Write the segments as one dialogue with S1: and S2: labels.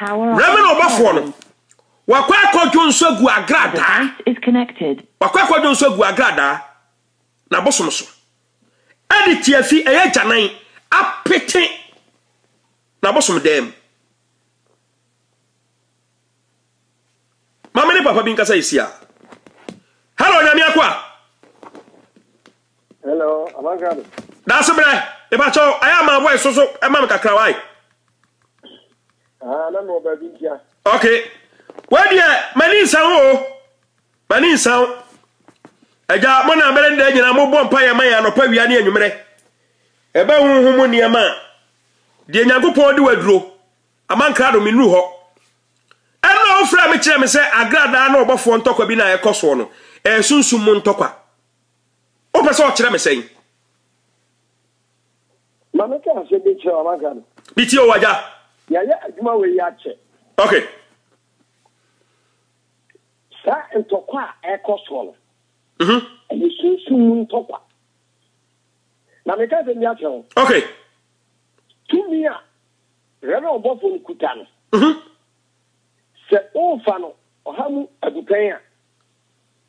S1: Rɛmɛ na ɔbɔfoɔ no wakɔ akɔdwo nso agu agradaa
S2: wakɔ akɔdwo nso agu
S1: agradaa na bosom so ɛde tiafi ɛyɛ gyanan apete na bosom dan mu maame ne papa bi nkasa yɛ si a hello nyame akɔ a
S3: Hello, Abankado. Daase brɛ,
S1: ebakyɛ o, ayɛ ama voice so so ɛma me kakra wae. Ah, na
S3: mewɔ baabi ntia. Okay.
S1: Wadeɛ, m'ani nsa wo o. M'ani nsa wo. Agya, mo na mmerɛ nda nyina mobɔ mpa yɛ ma yɛ anɔpa wia ne anwummerɛ. Ɛbɛ honhom mu nneɛma a, deɛ Nyankopɔn de waduro, Abankado menuru hɔ. Ɛnna wofrɛ me kyerɛ me sɛ agradaa na ɔbɔfoɔ ntɔkwa bi na ɛkɔ soɔ no, ɛyɛ sunsum mu ntɔkwa. Wopɛ sɛ ɔkyerɛ me sɛn?
S3: Ma me ka asɛm bi kyerɛ wo, maka no. Metie o, agya.
S1: Yɛayɛ adwuma
S3: wei akyɛ. Ok. Saa ntɔkwa a ɛkɔ soɔ no,
S1: ɛyɛ sunsum
S3: mu ntɔkwa. Na meka asɛm bi akyerɛ wo. Ok. Tumi a Reverend ɔbɔfoɔ no kuta no, sɛ wofa no ɔha mu adupɛn a,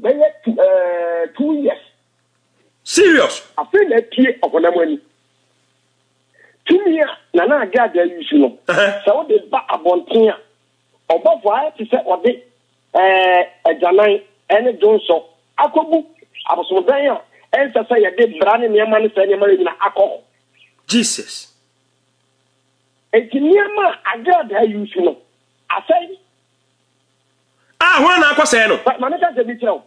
S3: Bɛyɛ two ɛɛɛ two years. Serious.
S1: Afei na
S3: apue ɔhonam ani. Tumi a Nana Ade Ade ayusu no, sɛ wode ba abɔnten a, ɔbɔfo ayɛ te sɛ ɔde ɛɛɛ agyanan ne dwonsɔ akɔgu abosomdan a ɛnsɛ sɛ yɛde bra ne nneɛma ne saa nneɛma no nyinaa akɔ hɔ. Jesus.
S1: Enti
S3: nneɛma a Ade Ade ayusu no, asɛe.
S1: A hwan na akɔsɛe no? Ma me ka sɛ bi kyerɛ wo.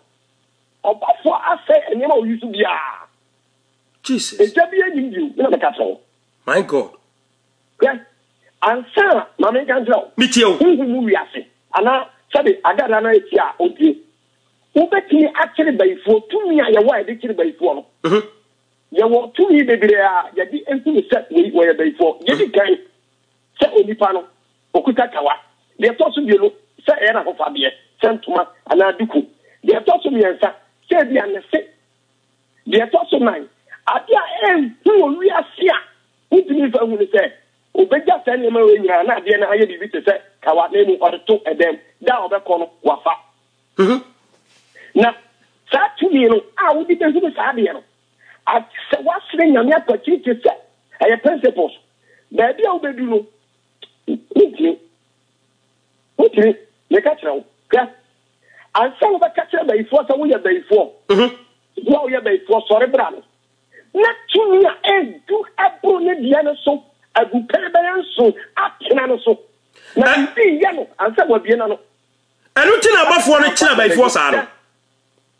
S3: Ɔbɔfo asɛe nneɛma a oyi so biara.
S1: Jesus. Egya bi anim
S3: bio, na me ka kyerɛ wo. My God.
S1: Hwɛ,
S3: ansa ma me nka nkyerɛ wo. Metie wo. Honhom mu
S1: wiase,
S3: anaa sɛbe Agada no a etie a ontie. Wobetumi akyere bayifoɔ, tumi a yɛwɔ a yɛde kyere bayifoɔ no. Yɛwɔ tumi bebree a yɛde hunu sɛ wei wɔyɛ bayifoɔ. Yedi kan. Sɛ onipa no, okuta kawa. Deɛ ɛtɔ so mmienu, sɛ ɛyɛ n'ahofadeɛ, sɛ ntoma anaa duku. Deɛ ɛtɔ so mmiɛnsa, sɛ ebia ne se. Deɛ ɛtɔ so nnan, adeɛ a ɛnhu wɔ wiase a wontumi mfa nhu ne sɛ, ɔbɛgya saa nneɛma wei nyinaa na adeɛ no ayɛ biribi te sɛ kawa na mmom ɔde to dan mu. Da a ɔbɛkɔ no, wafa. Na saa tumi no a wode bɛhunu saa adeɛ no, Agye sɛ woasrɛ Nyame akwati te sɛ ɛyɛ principles. Baabi a wobɛdu no, wontumi. Wontumi. Meka kyerɛ wo, hwɛ, ansa na wobɛka kyerɛ bayifoɔ sɛ woyɛ bayifoɔ, wo a woyɛ bayifoɔ, sɔre bra no na tumi a ɛdu ɛboro ne deɛ no so agu pere bɛyɛ nson atena no so, na biribi yɛ no ansa wabie n'ano. Ɛno nti na
S1: abɔfoɔ no kyerɛ bayifoɔ saa no.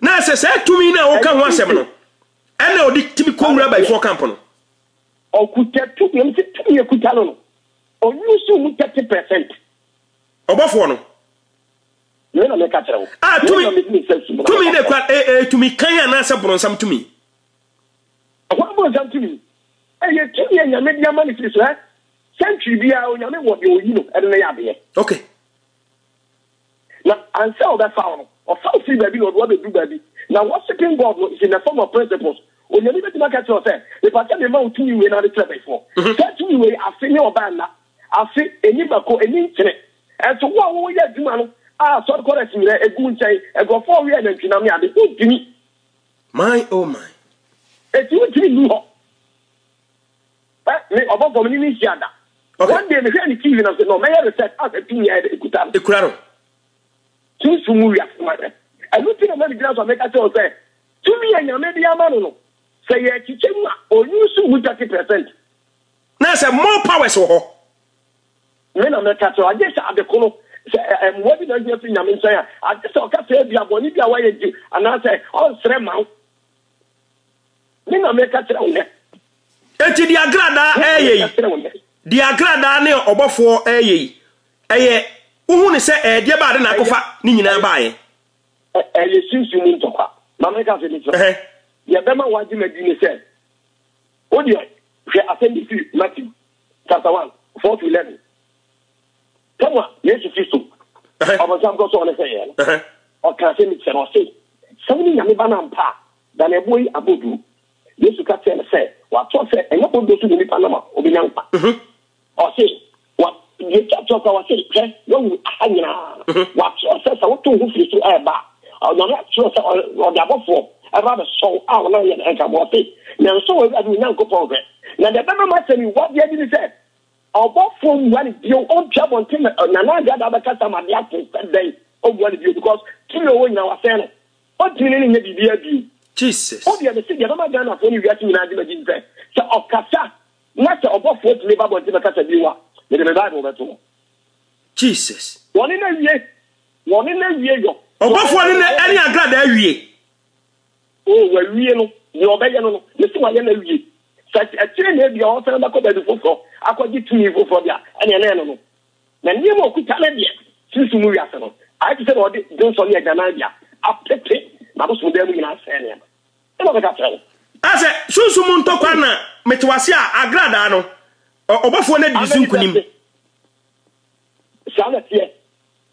S1: Na sɛ saa tumi no a woka ho asɛm no ɛna ɔde tumi kɔwura abayifoɔ kampo no. Ɔkuta
S3: tumi, ɛm sɛ tumi ɛkuta no no, ɔyusu mu 30 percent. Ɔbɔfoɔ
S1: no.
S3: Me na meka kyerɛ wo. Ah, tumi,
S1: tumi na ɛkura, eh, eh, tumi kan anaasɛ boronsam tumi?
S3: Ɛhɔ boronsam tumi. Ɛyɛ tumi a nyame de ama ne firi so, eh? Sɛntwi biara, onyame wɔ deɛ ɔyi no, ɛde no yɛ adeɛ. Okay. Na ansa ɔbɛfa wo no, ɔfa wo firi baabi na ɔde wo abɛduru baabi. Na worshipping God no is in the form of principles. Onyame bɛtumi aka kyerɛ wo sɛ, Mepa sɛ mema wo tumi wei na wode kyerɛ bɛfoɔ. Saa tumi wei, afe ne ɔbaa nna, afe, ɛni mako, ɛni nkyene. Nso wo a woyɛ adwuma no, a sɔre kɔ rest nyinaa, ɛgu nkyɛn, nkurɔfoɔ wɛ nantwinam ne ade, wontumi. My
S1: oh my. Enti wontumi
S3: nnu hɔ. Eh me ɔbɔfo me ne ne hyia da. Okay. One day mehwɛ ne TV na sɛ no mɛyɛ research asɛ tumi a ɛde ekuta no. Ekura no. Sunsun mu wiase ma sɛ. Ɛno ti na mɛde gyina so a mɛka kyerɛ wo sɛ tumi a nyame de ama no no sɛ yɛkyekyɛ mu a ɔyi so mu 30 percent. Na
S1: sɛ more powers wɔ hɔ.
S3: Me na mɛka kyerɛ agye sɛ ade kono sɛ mmoa bi na ahia fi nyame nkyɛn a agye sɛ ɔka sɛ ebia bɔne bi a wayɛ gye anaasɛ ɔnsrɛ ma wo. Me na meka kyerɛ wo nɛ. Enti deɛ
S1: agradaa ɛyɛ yi, deɛ agradaa ne ɔbɔfoɔ ɛyɛ yi, ɛyɛ wohu ne sɛ ɛyɛ deɛ baade na akɔfa ne nyinaa baayɛ. Ɛyɛ
S3: sunsun mu ntɔkwa. Maame nka sɛ ne kyerɛ. Deɛ bɛma wagye ma di ne sɛ, wo deɛ hwɛ asɛm bi firi Matthew chapter one four to eleven. Sɛnea Yesu Kristo, ɔbonsam kɔ sɔɔ no sɛ yɛn no, ɔkaa sɛ ne kyerɛ ɔse, Sɛ wone Nyame Ba no ampa a, dane ɛboɔ yi aboduro. Yesu ka kyerɛɛ no sɛ, Wɔatwerɛ sɛ, 'Ɛnyɛ boduro so na onipa nam a ɔbɛnya nkwa. Ɔse, Wa, deɛ ɛtwa toɔ koraa, ɔse, Hwɛ, woahunu aha nyinaa. Wɔatwerɛ sɛ, 'Sɛ woto wo ho firi soro ɛreba a, Onyame atwerɛ sɛ ɔde abɔfoɔ ɛba abɛsɔ wo a wɔnam yɛn ɛnka mu. Ɔse, Nanso Awurade wo Nyankopɔn hwɛ. Na deɛ ɛbɛma m'asɛm yi wɔ adeɛ adi ne sɛ, Ɔbɔfoɔ mmua no bio, ɔntu abɔnten ma Nana Addo ada abɛkasa ma adeɛ ato sɛ dɛn ɔmmua no bio because tumi a ɔwɔ nyinaa wasɛe no, ɔntumi ne no nyɛ biribiara bio. Jesus. Wodeɛ
S1: mese deɛ ɛbɛma
S3: Ghanafoɔ ne wiase nyinaa agye m'adi ne sɛ, sɛ ɔkasa na sɛ ɔbɔfoɔ tumi ba abɔnten bɛkasa bio a, mede me Bible bɛto hɔ. Jesus.
S1: Wɔne no awie,
S3: wɔne no awie yɔ.
S1: Ɔbɔfoɔ ne no ɛne agradaa awie. O,
S3: wawie no, deɛ ɔbɛyɛ no no, me se wayɛ no awie. Sɛ akyire na ebia ɔresan bɛkɔ baabi foforɔ akɔgye tumi foforɔ de a, ɛneɛ na ɛno no. Na nneɛma a ɔkuta no deɛ, sunsum mu wiase no, ayɛ te sɛ deɛ wɔde dwonsɔ ne agyanan de a, apete n'abosomdan mu nyinaa asɛe nneɛma. Ɛna ɔbɛka akyerɛ wo. Sɛ, Sunsum mu ntɔkwa na
S1: mete wo ase a, agradaa no, ɔbɔfoɔ no adi ne so nkonim. Amen, meda ase.
S3: Saa na ɛteɛ.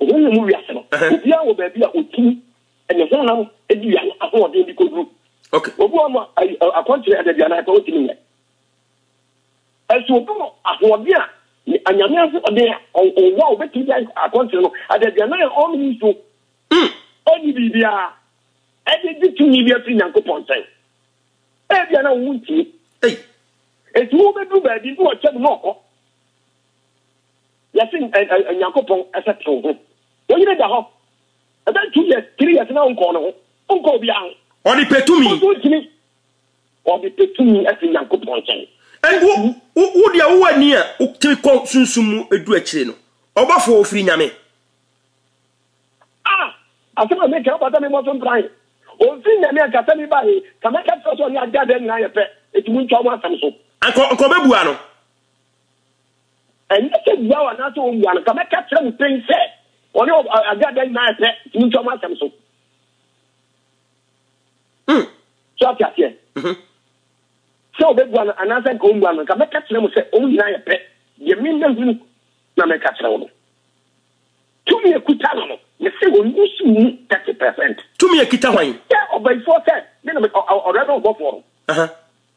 S3: Honhom mu wiase no, obiara wɔ baabi a otumi ne honam dua no ahoɔden de koduru. Obi wɔ hɔ no
S1: a,
S3: akwankyerɛ adaduanan pɛ ontumi nyɛ. Nanso obi wɔ ahoɔden a anyame ahoɔden a ɔwɔ a obetumi de ayɛ akwankyerɛ no adaduanan a ɔnnom nsuo, ɔnni biribiara de gye tumi bi afiri Nyankopɔn nkyɛn. Ebia na wontie. Enti wobeduru baabi na ɔkyɛ mu na ɔkɔ. Yɛse Nyankopɔn sɛ tew ho. Wo yere da hɔ ɛbɛn two years, three years na wonkɔɔ ne ho, wonkɔɔ obiara ho. Ɔde pɛ tumi. Wo
S1: nso wontumi. Ɔde pɛ
S3: tumi fi Nyankopɔn nkyɛn. Ɛnde
S1: wo deɛ wowɔ ani a wotumi kɔ sunsum mu du akyire no, ɔbɔfoɔ a ɔfiri Nyame. Ah!
S3: Asɛm a meka yi, wobata me mmɔ so mpran. Ɔmfiri Nyame a anka sɛ meba he, ka mɛka kyerɛ wo sɛ ɔne Agya Dɛɛ nyinaa yɛ pɛ, enti montwa wɔn asɛm so. Anka ɔbɛbua no. Ɛnyɛ sɛ obua wo anaasɛ ommua no, nka mɛka kyerɛ mo pɛn sɛ ɔne Aguada nyinaa yɛ pɛ, nti montwa mo asɛm so. Hmm. So ate aseɛ? Mhm. Sɛ ɔbɛbua no anaasɛ nka ɔmmua no, nka mɛka kyerɛ mo sɛ wɔn nyinaa yɛ pɛ, deɛ memahunu na meka kyerɛ wo no. Tumi ɛkuta no no, mese ɔnni so mu 30 percent. Tumi ɛkuta hwan?
S1: Sɛ ɔbayifoɔ sɛ,
S3: me na ɔdɔdɔ ɔbɔfoɔ no.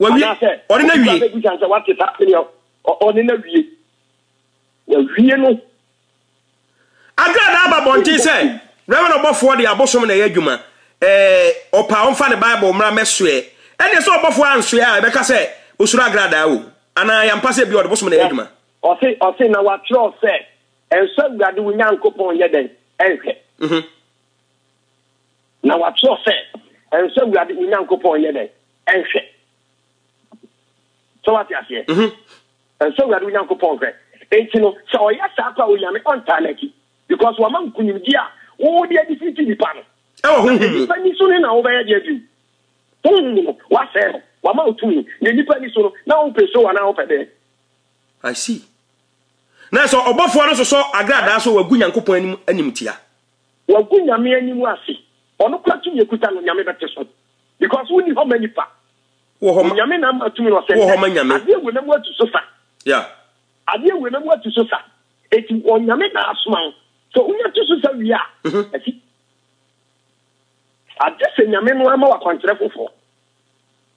S3: wawie
S1: anaasɛ ɔne na wie bɛgu sane sɛ wate saa sɛdeɛ
S3: ɔne na wie wawie no
S1: agradaa aba bɔnten sɛ reverend ɔbɔfoɔ de abosom na ɛyɛ adwuma ɔpa ɔmfa ne bible mmra mɛsoɛ ɛneɛ sɛ ɔbɔfoɔ ansoɛ a ɛbɛka sɛ osuro agradaa o anaa yɛmpa sɛ bi ɔde bosom na ɛyɛ adwuma ɔse ɔse na wakyerɛ
S3: sɛ ɛnsɛ awurade wo nyankopɔn yɛ dɛn ɛnhwɛ mhm. Na wɔatwerɛ sɛ, Ɛnsɔ Awurade wo Nyankopɔn nyɛ dɛn? Nhwɛ. Sɛ woate aseɛ? Mhm. Ɛnsɔ Awurade wo Nyankopɔn nhwɛ. Enti no, sɛ ɔyɛ saa kɔ a, Onyame ɔntaa n'akyi. Because wama nkonimdie a wo de adi fiti nipa no. Ɛwɔ honhom mu. Na nipa ni so no na wobɛyɛ deɛ bio? Honhom mu no, woasɛe no. Wama wo tumi. Na nipa ni so no, na wompɛ so anaa wopɛ dɛn? I see. Na sɛ ɔbɔfoɔ no sosɔ agradaa so wagu Nyankopɔn anim animtia. Wagu Nyame anim ase. Ɔnokora tumi a ɛkuta no Nyame bɛte so because wonni hɔ ma nipa. Onyame na ama tumi no ɔsɛ nnɛ adeɛ wei na mu atu so sa. Adeɛ wei na mu atu so sa. Eti Onyame na asoma wo. Sɛ wonya tu so sa wie a, asi. Agye sɛ Nyame no ara ma wo akwankyerɛ foforɔ.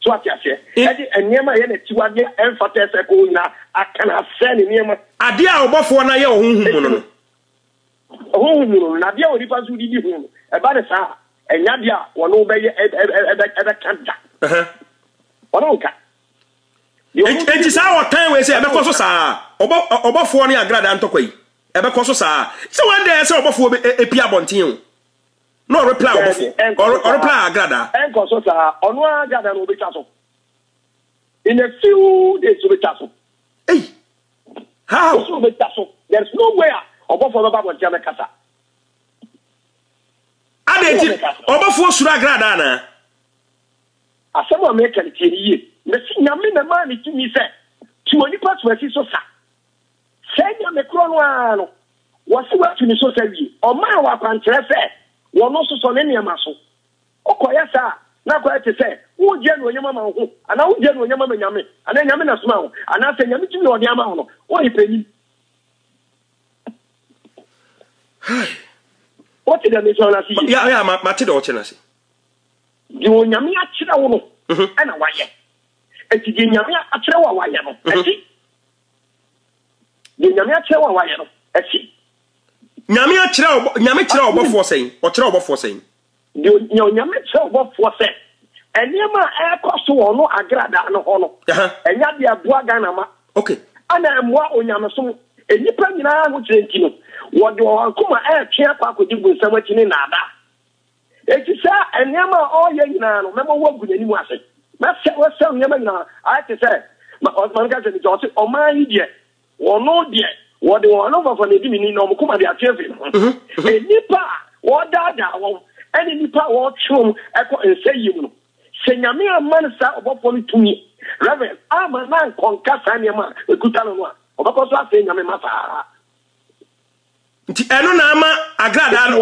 S3: So wate aseɛ? Ɛde nneɛma a ɛyɛ n'akyiwadeɛ a ɛmfata a ɛsɛ ɛkɔ hɔ nyinaa aka no asɛe ne nneɛma. Adeɛ a ɔbɔfoɔ no ayɛ wɔ honhom mu no no. Honhom mu no no, na adeɛ a onipa nso de di ho no, ɛba no saa a, ɛnyɛ adeɛ a wɔne wo bɛyɛ ɛ ɛ ɛ ɛ ɛbɛka da. Wɔne wo nka. Enti saa ɔtan wei sɛ ɛbɛkɔ so saa ɔbɔ ɔbɔfoɔ ne agradaa ntɔkwa yi ɛbɛkɔ so saa sɛ wɔn dɛ sɛ ɔbɔfoɔ bɛ ɛpi abɔnten o. na ɔrepla ɔbɔfo ɔrepla agradaa. ɛnkɔ so saa ɔno ara agradaa no ɔbɛtwa so in a few days ɔbɛtwa so. Hey, how? Ɔsoro ɔbɛtwa so there is no way a ɔbɔfo bɛba abɔnten abɛkasa. Adɛn nti ɔbɔfoɔ suro agradaa anaa? Asɛm a meka no tie no yie. Mesi nyame na maa ne tumi sɛ tu onipa so asi so sa. Sɛɛ Nyame korɔ no ara no, wɔse watu ne so sa wie, ɔmaa wɔ akwankyerɛ sɛ wɔno sosɔ ne nneɛma so. Wokɔyɛ saa a, na akɔyɛ te sɛ woregye anuonyam ama wo ho, anaa wogye anuonyam ama Nyame, anaa Nyame na somaa wo, anaa sɛ Nyame tumi a ɔde ama wo no, woyɛ panin. Hi. Wote deɛ mekyerɛ no ase yie? Ya, ya, ma, mate deɛ ɔkyerɛ no ase. Deɛ Onyame akyerɛ wo no, mhm. ɛna wayɛ. Enti deɛ Nyame akyerɛ wo a wayɛ no, mhm. ɛte. Deɛ Nyame akyerɛ wo a wayɛ no, ɛsi. Nyame akyerɛ ɔbɔ Nyame kyerɛ ɔbɔfoɔ sɛn? Ɔkyerɛ ɔbɔfoɔ sɛn? Deɛ Nyame kyerɛ ɔbɔfoɔ sɛ nneɛma a ɛrekɔ so wɔ ɔno Agradaa no hɔ no, ɛnyɛ adeɛ a ɛboa Ghana ma, ɛna ɛmmoa onyamesom. Nnipa nyinaa ahokyerɛ nti no, wɔde wɔn akoma retwe akɔ akɔdi bonsam akyi ne nnaadaa. Enti saa nneɛma a ɔreyɛ nyinaa no, mɛma woagu n'anim ase. Mɛsɛe wo, asɛe wo nneɛma nyinaa. Ayɛ te sɛ, ma, ɔ, ma menka sɛ bi sɛ ɔse, Ɔman yi deɛ, wɔno deɛ, wɔde wɔn anofafa na edi me ni, na wɔn koma de ate afi me ho. Nnipa a wɔredaadaa wɔn, ɛne nnipa a wɔretwe wɔn kɔ nsɛeɛ mu no, sɛ Nyame amma no saa ɔbɔfoɔ no tumi, Rev. Amma no ankɔnka saa nneɛma a ɛkuta no no a, ɔbɛkɔ so asɛe Nyame mma saa ara. nti ɛno na ama agradaa no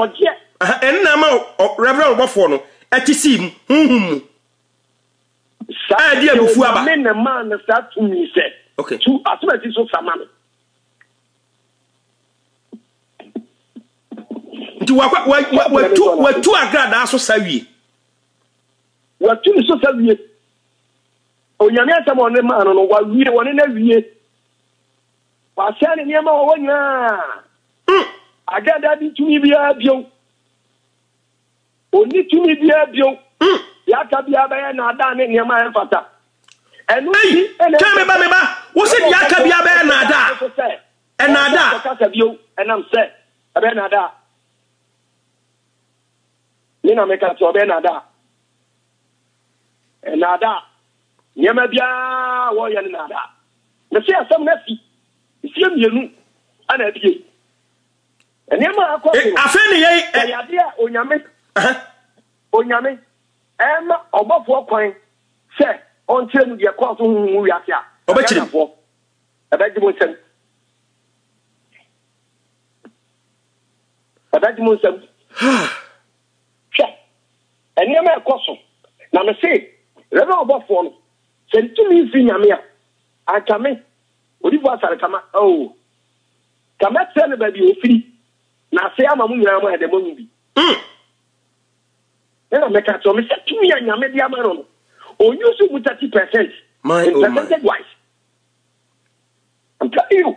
S3: ɛno na ama reverend ɔbɔfoɔ no ɛte sii mu honhom mu a ɛde abufu aba me na maa no saa tumi sɛ tu asomasi so sama no nti watu agradaa so sa wie watu ne so sa wie onyame asɛm ɔne maa no no wawie wɔne no awie Wasɛe ne nneɛma a ɔwɔ nyinaa. Hmm. Ada da ne tumi biara bio. Onni tumi biara bio. Hmm. Deɛ aka biara bɛyɛ naadaa ne nneɛma a ɛmfata. Ɛno nti ɛna ɛsɛ meba meba wo sɛ deɛ aka biara bɛyɛ naadaa. Ɛnaadaa. Ɛsɛ kasa bio ɛnam sɛ ɛbɛyɛ naadaa. Ne na meka sɛ ɔbɛyɛ naadaa. Nnaadaa. Nneɛma biara a wɔyɛ no nnaadaa. Mese asɛm no asi. Mfie mmienu ana abie. Nneɛma a ɛkɔ so no. Afei ne yɛn. Ɛyɛ adeɛ a onyame. Onyame ɛma ɔbɔfoɔ kwan sɛ ɔnkyerɛ mu deɛ ɛkɔɔ so honhom mu wiase a. Ɔbɛkyerɛ mu. Ɛbɛgye mo nsɛm. Ɛbɛgye mo nsɛm. Hwɛ, nneɛma rekɔ so, na mese, Yɛn a ɔbɔfoɔ no, sɛ ne tumi mfiri Nyame a, anka me, odiyifoɔ Asare Kama, oo, ka mɛkyerɛ no baabi a ɔfiri, na afei ama mo nyinaa moayɛ dɛ moahu bi. Ɛna mɛka akyerɛ wo, mese, tumi a Nyame de ama no no, ɔnuse mu thirty percent, in percentage wise. I'm telling you.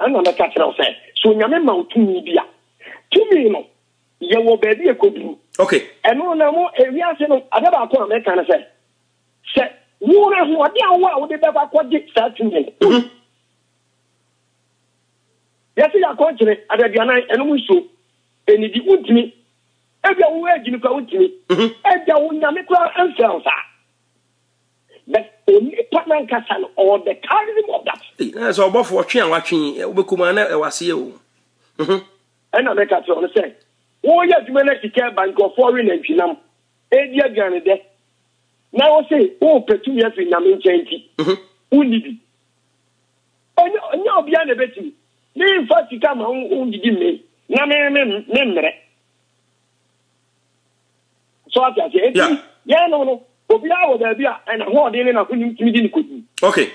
S3: Ɛnna mɛka akyerɛ wo sɛ, sɛ Onyame ma wo tumi bi a, tumi no, yɛwɔ baabi a ɛkɔduru. Ok. Ɛno no, na mo, ewiase no, adeɛ baako a mɛka ne sɛ, sɛ wo no ahoɔden a wowɔ a wode bɛkɔ akɔgye saa tumi no, o, yɛse yɛakɔnkyene adaduanan, ɛnom nsuo, ɛnidi, wontumi. Ebia wo agyimi koraa wontumi. Ebia wo Nyame koraa mfrɛ wo saa. but onipa nankasa no ɔwɔ the charism of that. na sɛ ɔbɔfo ɔtwe a watwe wobɛkɔ mu a na ɛwɔ aseɛ o. Mhm. ɛna mɛka kyerɛ ɔno sɛ woyɛ adwuma na sika ɛba nkurɔfoɔ we nantwinam ɛdi aduane dɛ na wo se wopɛ tumi afiri nyame nkyɛn nti mhm. wonni bi ɛnyɛ obiara na ɛbɛtumi memfa sika ma wondidi mmee na memmerɛ so ate aseɛ eti Yeah. yɛn no no obiara wɔ baabi a ɛna hoɔden ne n'ahonim tumi de ne kɔdu okay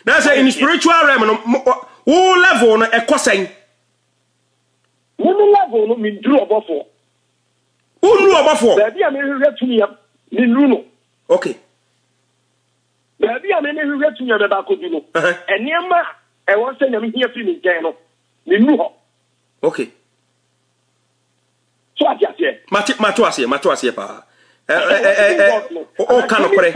S3: na sɛ in spiritual realm no mo- ɔ- wo level no ɛkɔ sɛn me me level no menduru ɔbɔfoɔ wonnu ɔbɔfoɔ baabi a mehwehwɛ tumi a mennuru no okay baabi a memehwehwɛ tumi a mɛba akɔdu no Aha. nneɛma a ɛwɔ sɛ nyame hia firi me nkyɛn no mennuru hɔ okay So ate aseɛ? Mate, mate aseɛ, mate aseɛ paa. Ɔka nokorɛ.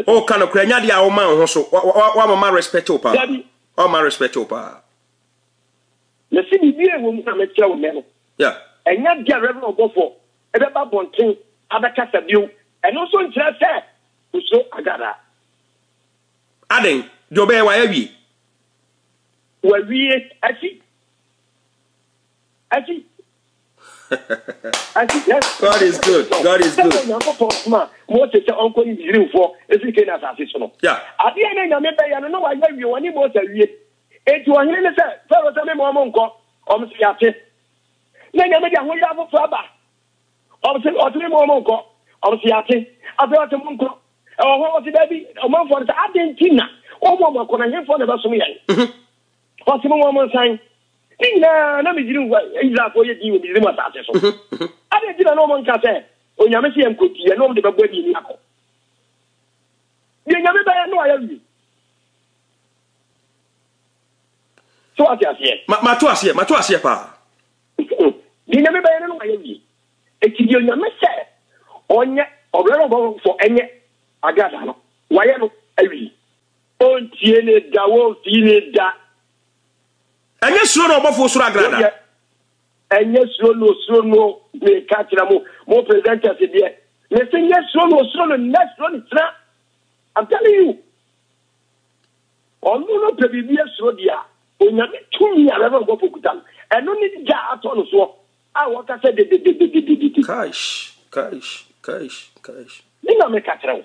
S3: Ɔka nokorɛ. Nya deɛ a ɔma wo ho so. Wamama respect wo paa. Wamama respect wo paa. Na si biribi a ɛwɔ mu na mekyerɛ wo nnɛ no. Ɛnya deɛ Reverend Ɔbɔfoɔ ɛbɛba abɔnten abɛkasa bio. Ɛno nso nkyerɛ sɛ osuro Agada. Adɛn? Deɛ ɔbɛyɛ wayawie. Wawie asi. Actually, actually, yes. God is good. God is good. Nyankopɔn soma Mose sɛ ɔnkɔ ne Misraimfoɔ ɛfiri Kana asase so no. Yeah. Adeɛ na Nyame bɛyɛ no na wayɛ wie wɔne Mose awie. Enti ɔhene ne sɛ Farao sɛ mema ɔmo nkɔ. Ɔmo sɛ yɛate. Na Nyame de ahoyɛ afoforɔ aba. Ɔmo sɛ ɔte mema ɔmo nkɔ. Ɔmo sɛ yɛate. Afei ɔte mo nkɔ. Ɛwɔ hɔ ɔte daabi ɔmanfoɔ no sɛ adɛn nti na ɔmo ɔmo akɔ na hemfoɔ na ɛbɛsom yɛn. Mm-hmm. Ɔse mo wɔn nsan. Ne nyinaa na Misri nfa Israelfoɔ yɛ din wɔ Misri mu asase so. Adɛn nti na na wɔn nka sɛ Onyame se yɛn kɔ nti yɛne wɔn de bɛbɔ adi ani akɔ? Deɛ Nyame bɛyɛ no ayɛ wie. So wate aseɛ? Ma ma to aseɛ ma to aseɛ paa. Deɛ nyame bɛyɛ no no ayɛ wie. Eti deɛ nyame sɛ ɔnyɛ ɔbrɛ no ɔbɔfo ɛnyɛ agradaa no wayɛ no awie. Wontie ne da, womfii ne da. Ɛnyɛ suro na ɔbɔfo osuro agrada. Ɛnyɛ suro na osuro no meka kyerɛ mo mo presenters deɛ mese nyɛ suro na osuro no nyɛ suro ne kyerɛ I'm telling you ɔno no pɛ biribi asuro deɛ a onyame tumi a rɛbɛ ɔbɔfo kuta no ɛno ne gya atɔ no soɔ a wɔka sɛ dedededededede kaish kaish kaish kaish ne na meka kyerɛ wo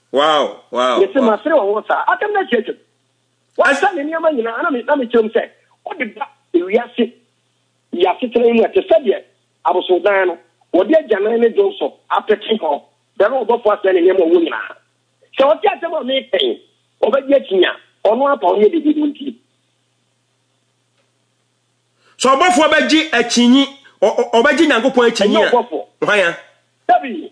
S1: Wow! Wow!
S3: Mese, Masere wo ho saa? Asɛm no atiatim. Wasa ne nneɛma nyinaa, na na mekyerɛ mu sɛ ɔde ba wiase yi asetena yi mu a ɛte sɛdeɛ abosonnan no, wɔde agyanan ne dwom so apete hɔ, bɛhwɛ ɔbɔfoɔ asɛe ne nneɛma a ɔwɔ nyinaa. Sɛ ɔte asɛm a meka yi, ɔbɛgye akyinnye a ɔno ara pa ɔnyɛ biribi no nti.
S1: Sɛ ɔbɔfoɔ bɛgye akyinnye, ɔbɛgye Nyankopɔn akyinnye a, hwan a? Dabi!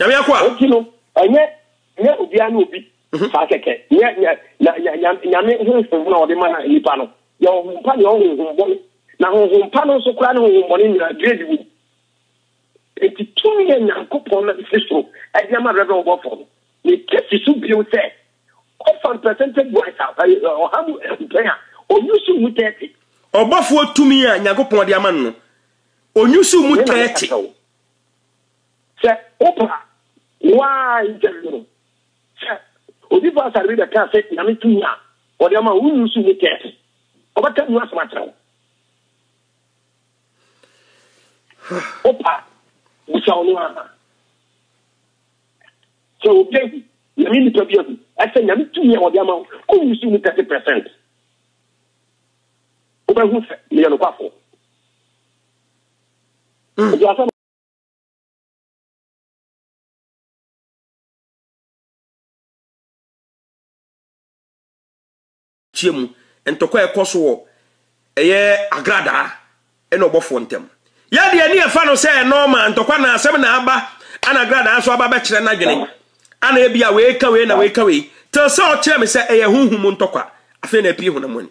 S1: Nyame akoa. Enti no, ɛnyɛ
S3: nyɛ obiara ne obi mhm. saa kɛkɛ. Nyɛ nyame honhom na ɔde ma nipa no. Yɛ honhom pa ne ɔhonhom bɔne. Na honhom pa no nso koraa ne honhom bɔne nyinaa grade wom. Enti tumi yɛ Nyankopɔn na ɛfiri soro ɛde ama Reverend Ɔbɔfoɔ no. Ne kɛsi so bio sɛ ɔfam percentage wise a ɔha mu mpɛn a ɔnyusu mu 30. Ɔbɔfoɔ tumi
S1: a Nyankopɔn de ama no no ɔnyusu mu 30.
S3: Sɛ wopa a, wo ara interview no. Sɛ obi ba asare bi bɛka sɛ Nyame tumi a ɔde ama wo nnu so nni kɛse. Ɔbɛka mu asɛm akyerɛ wo. Wopa a, bisa wo no ara. Sɛ obi awu, Nyame nnipa bi awu, ɛsɛ Nyame tumi a ɔde ama wo kɔnnu so mu kɛse percent. Wobɛhu sɛ meyɛ nokwafo. Obi asɛm. tie mu ntɔkwa a ɛkɔ so wɔ ɛyɛ agradaa ɛna ɔbɔfoɔ ntam yɛdeɛ ne ɛfa no sɛ nɔɔma ntɔkwa na asɛm na aba ana agradaa nso aba bɛkyerɛ n'adwene ana ebi a wei ka wei na wei ka wei tɛ sɛ ɔkyerɛ me sɛ ɛyɛ honhom ntɔkwa afei na ɛpii honam ani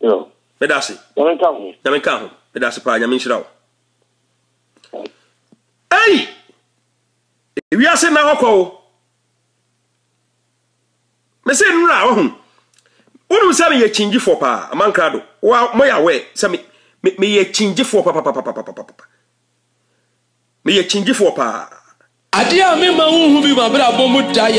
S3: Yo. Meda ase.
S1: Nyame nka ho. Nyame nka ho. Meda ase paa Nyame nhyira wo. Ei! Wiase na hɔ kɔ wo. Me se nnura wahu. Wonu sɛ meyɛ kyingyifoɔ paa amankra do. Wa mo yɛ awɛ sɛ me me meyɛ kyingyifoɔ papa papa papa papa papa. Meyɛ
S2: kyingyifoɔ paa. Adeɛ a mema wonhu bi m'abrabɔ
S1: mu
S2: da yɛ.